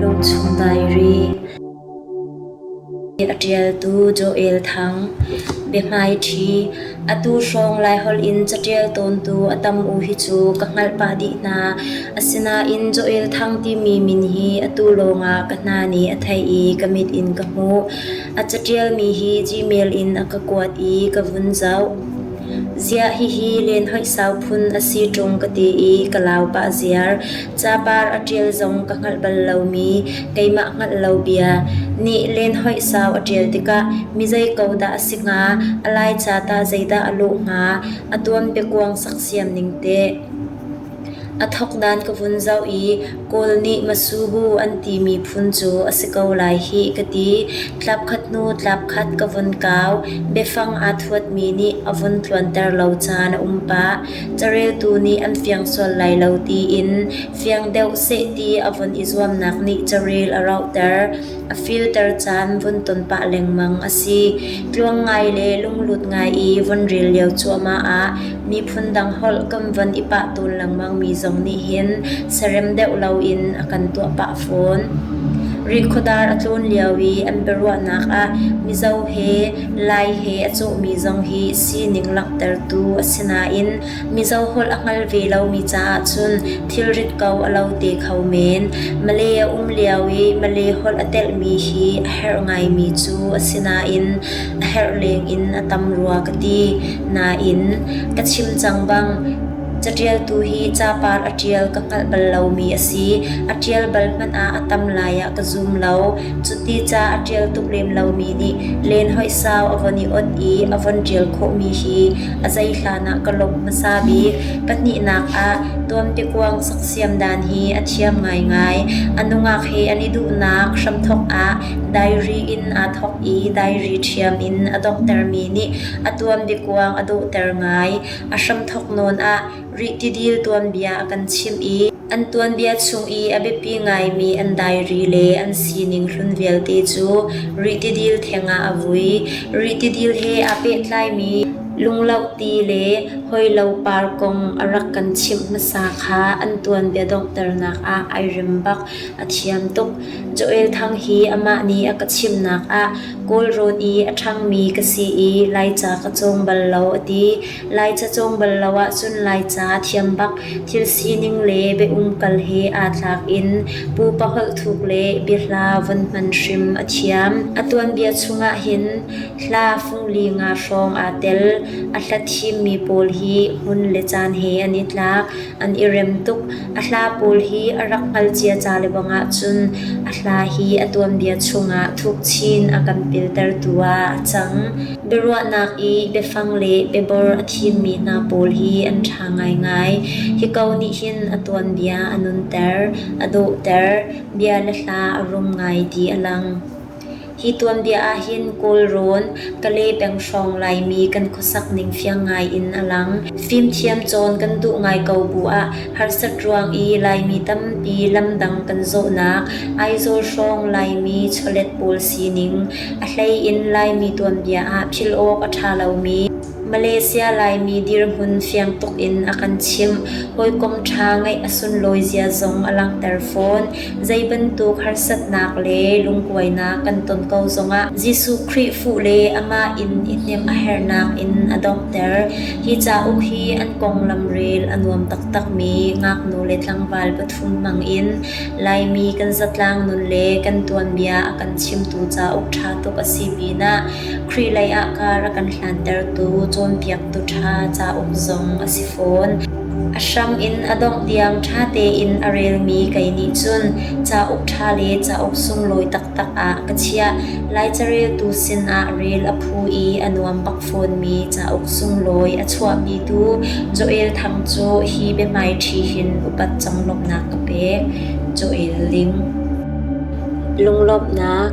Lungchung Diary a ṭialtu Joel Thang biahmaiṭhi atu hrawng Laiholh in caṭial tawntu a tam u hi cu ka hngalh pah dih hna asinain Joel Thang timi min hi atu lawngah ka hna nih a thei i ka mit in ka hmuh A catialmi hi Gmail in a ka kuat i ka vun zoh. Ziah hihi lenhoih sau phun a si ṭung ka ti i ka lau pah ziar. Capar a ṭial zong ka hngalh bal lomi, keimah hngalh lo bia nih lenhoih sau a ṭial tikah mi zei ko dah a si hnga, a laica tah zeidah a luh hnga, a tuan biakuang saksiam ning teh. A thawkdan ka vun zoh i Kawl nih Masubu an timi phun cu a si ko lai hih ka ti. Tlapkhat hnu tlapkhat ka vun kau. Biafang aa thuatmi nih a vun tluanter lo caan a um pah. Careltu nih an fiang sual lai lo tiin fiang deuh seh ti a vun i zuamnak nih carel a rauhter. a filter caan vun ton pah lengmang a si. Tluang ngai le lunglut ngai i vun ril lio cuahmah ah miphun dang holh kan von i pah tawn lengmang mi zong nih hin sarem deuh loin a kan tuah pah fawn. Rikhuadar a tlun lio i an biaruahnak ah Mizo he Lai he a cawhmi zong hi sining langhtertu a si nain Mizo holh a hngal ve lomi caah cun thilrit ko a lo te kho men. Malay a um lio i Malay holh a telhmi hi a herh ngaimi cu a si nain a herh leng in a tam rua ka ti. Nain ka chim cang bang catialtu hi capar a tial ka hngalh bal lomi a si. A tial bal hmanh ah a tam lai ah ka zum lo. Cuti ca a tial tuk lem lomi nih len hoih sau a von i ot i a von tial khawhmi hi a zei hlan ah ka lawmh hmasa bik. Pahnihnak ah tuanbiakuang saksiam dan hi a thiam ngaingai. A nungak he an i duhnak hramthawk ah diary in aa thawk i diary thiam in a donghtermi nih a tuanbiakuang a dawhter ngai. A hramthawk nawn ah rih tidil tuanbia a kan chimh i An tuanbia chung i a biapi ngaimi an dairi le an sining hlun vialte cu ritidil thengah a vui. Ritidil he aa pehtlaimi lunglauh ti le hawilo par kong a rak kan chimh hmasa kha an tuanbia donghternak ah ai rem bak. A thiam tuk. Joel Thang hi amah nih a ka chimhnak ah Kawl Road i a ṭhangmi ka si i Laica ka cawng bal lo a ti. Laica cawng bal lo ahcun Laica thiam bak thil sining le bia umkal he aa tlak in pupa holh thuk le biahla von hman hrim a thiam. A tuanbia chungah hin hla fung li nga hrawng aa tel. A hla thimmi pawl hi hmun le caan he an i tlak. an i rem tuk. A hla pawl hi a rak hngal cia ca lebang ahcun a hla hi a tuanbia chungah thuk chin a kan piltertu ah a cang. Biaruahnak i biafang le biabor a thimmi hna pawl hi an ṭha ngaingai. Hi ko nih hin a tuanbia a nunter, a dawhter, bia le hla a rum ngai ti a lang. Hi tuanbia ahhin Kawlrawn, Kale peng hrawng Laimi kan khuasak ning fiang ngaiin a lang. Fimthiam cawn kan duh ngai ko bu ah harsat ruang i Laimi tampi lamdang kan zawhnak Aizawl hrawng Laimi chawlet pawl sining, a hleiin Laimi tuanbia ah philh awk a ṭha lomi, Malaysia Laimi dirhmun fiang tuk in a kan chimh. Hawikom ṭha ngeih a sunlawi zia zong a langhter fawn. Zeibantuk harsatnak le lungkuainak kan ton ko zongah Jesuh Khrih fuh le amah in i hnemh a herhnak in a donghter. Hi cauk hi an konglam rel a nuam taktakmi ngaknu le tlangval pathum hmangin Laimi kan zatlang nun le kan tuanbia a kan chimtu cauk ṭha tuk a si pinah Khrih leiah kar a kan hlantertu cawnpiaktu ṭha cauk zong a si fawn. A hrang in a dongh diang ṭha tein a relmi kei nih cun cauk ṭha le cauk sunglawi taktak ah ka chiah. Lai careltu sinah rel a phu i a nuam bak fawnmi cauk sunglawi a chuahmi tu Joel Thang cu hi biahmaiṭhi hin upat conglawmhnak ka pek. Joel Ling Lunglawmhnak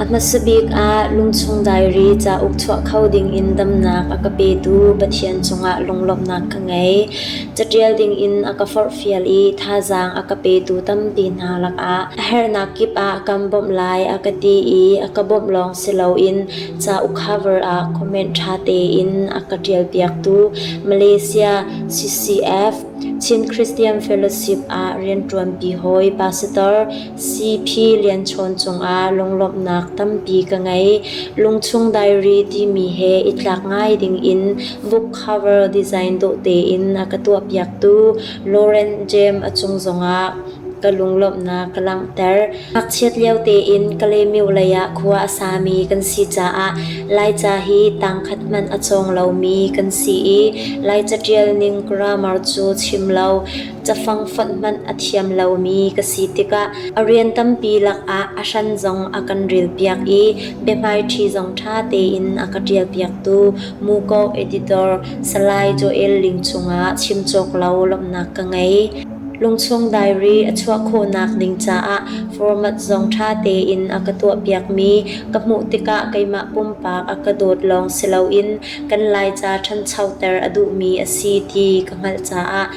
A hmasa bik ah lungchung diary cauk chuah kho dingin damnak a ka petu Pathian cungah lunglawmhnak ka ngei. Catial dingin a ka forhfial i thazaang a ka petu tampi hna lakah a herhnak kip ah kan bawmh lai a ka ti i a ka bawmh lawng si loin cauk cover ah comment ṭha tein a ka ṭialpiaktu Malaysia CCF Chin Christian Fellowship ah rianṭuanpi hawi Pastor Siphi lianchawn cungah lunglawmhnak tampi ka ngei. Lungchung diary timi he i tlak ngai dingin book cover design dawh tein a ka tuahpiaktu Lauren James a cung zongah ka lunglawmhnak ka langhter. Ngakchiat lio tein Kalemiu leiah khua a sami kan si caah Laica hi tangkhat hmanh a cawng lomi kan si i Laica ṭialning grammar cu chim lo Cafang fonh hmanh a thiam lomi ka si tikah a rian tampi lakah a hran zong a kan rilpiak i biahmaiṭhi zong ṭha tein a ka ṭialpiaktu Muko editor Salai Joel Ling cungah chim cawk lo lawmhnak ka ngei. Lungchung diary a chuah khawhnak ding caah format zong ṭha tein a ka tuahpiakmi ka hmuh tikah keimah pumpak a ka dawt lawng si loin kan Laica ṭhanchoter a duhmi a si ti ka hngalh caah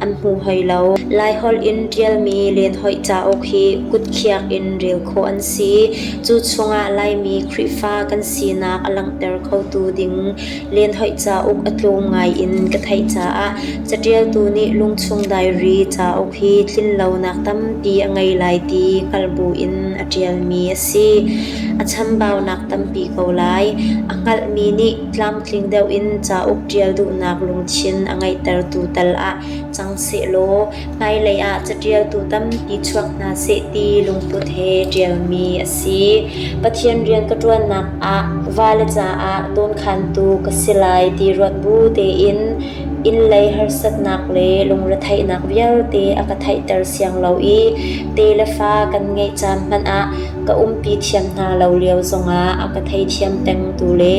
an hmu hlei lo. Laiholh in ṭialmi lenhoih cauk hi kutkhiak in rel khawh an si. Cu chungah Laimi Khrihfa kan sinak a langhter khotu ding lenhoih cauk a tlawm ngai in ka theih caah caṭialtu nih Lungchung Diary cauk hi tlinlonak tampi a ngei lai ti hngalh buin a ṭialmi a si. A chambaunak tampi ko lai. A hngalhmi nih tlamtling deuh in cauk ṭial duhnak lungthin a ngeihtertu tal ah cang sehlaw hmailei ah caṭialtu tampi chuak hna seh ti lungput he ṭialmi a si. Pathian rian ka ṭuannak ah vale caah dawnkhantu ka si lai ti ruat bu tein innlei harsatnak le lungretheihnak vialte a ka theihter siang lo i te le fa kan ngeih caan hmanh ah ka umpi thiam hna lo lio zongah a ka theithiam pengtu le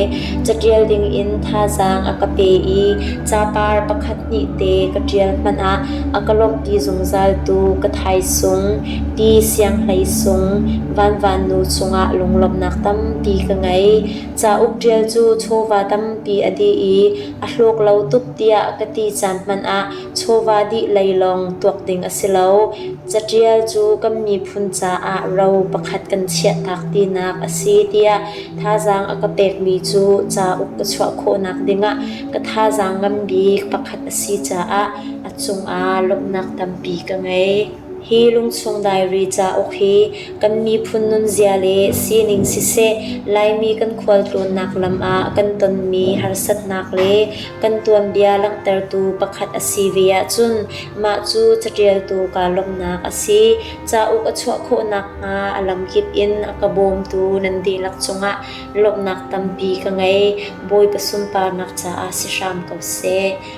catial dingin thazaang a ka pe i capar pakhat hnih te ka ṭial hmanh ah a ka lawmhpi zungzaltu ka thaisung Pi Sianghlei Sung Vanvanu chungah lunglawmhnak tampi ka ngei. Cauk ṭial cu chawva tampi a dih i a hlawk lo tuk tiah ka ti caan hmanh ah chawva dih lei lawng tuak ding a si lo. Catial cu kan miphun caah ro pakhat kan chiahtak tinak a si tiah thazaang a ka pekmi cu cauk ka chuah khawhnak dingah ka thazaang ngan bik pakhat a si caah a cungah lawmhnak tampi ka ngei. Hi lungsung dairi cauk hi kan miphun nunzia le sining siseh, Laimi kan khualtlawnnak lam ah kan tonmi harsatnak le kan tuanbia langhtertu pakhat a si ve ahcun mah cu catialtu kaa lawmhnak a si. Cauk a chuah khawh nakhnga a lamkip in a ka bawmtu nan dihlak cungah lawmhnak tampi ka ngei. Bawipa sunparnak caah si hram ko seh.